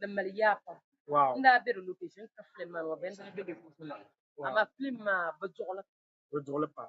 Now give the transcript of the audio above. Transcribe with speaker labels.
Speaker 1: din mali yaa
Speaker 2: pam n daa be di
Speaker 1: location
Speaker 2: ka film maa ŋɔ bɛn daa be di puuni maa amaa film maa bi duɣili pam.